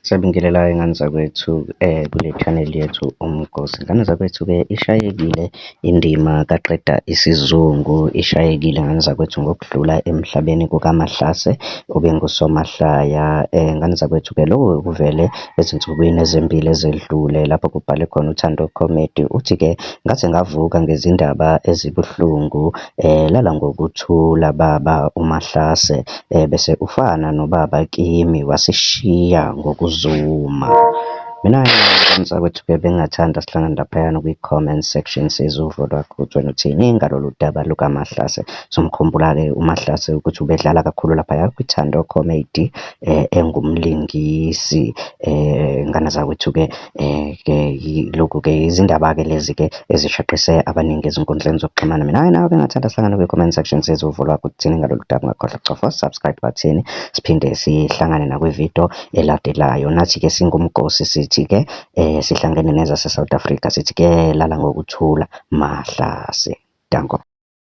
Sabingelelayo ngane zakwethu kule channel yethu uMgosi. Ngane zakwethu-ke ishayekile indima kaqeda isizungu, ishayekile ngane zakwethu ngokudlula emhlabeni kukaMahlase obengusomahlaya. Ngane zakwethu-ke loku kuvele ezinsukwini ezimbili ezedlule lapho kubhale khona uThando Comedy. Uthi-ke ngaze ngavuka ngezindaba ezibuhlungu. Lala ngokuthula baba uMahlase bese ufana nobaba kimi wasishiya ngokuzuma. Mina mntakwethu bengingathanda sihlangane laphayana kwi-comment section sizwe uvo lwakho ukuthi wena uthini ngalolu daba lukaMahlase. Somkhumbula-ke uMahlase ukuthi ubedlala kakhulu laphaya kwiThando Comedy engumlingisi ngane zakwethu-ke. Ke lokhu ke izindaba-ke lezi-ke ezishaqise abaningi ezinkundleni zokuxhumana. Mina-ke nawe-ke engathanda sihlangane kwi-comment section size uvulwa ukuthi thini ngalolu daba. Ungakhohlwa ukucofa subscribe button siphinde sihlangane nakwividiyo elandelayo. Nathi-ke singumgosi sithi-ke sihlangene nezase-South Africa sithi kuyelala ngokuthula mahlase. Danko.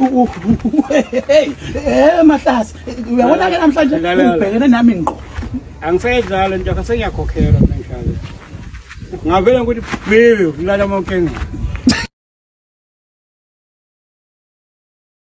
Eh mahlasi uyabona ke namhlanje ubhekene nami ngqo. Angisayidlala nje akasengiyakhokhelwa manje. Ngavela ukuthi baby ukulala amankenga.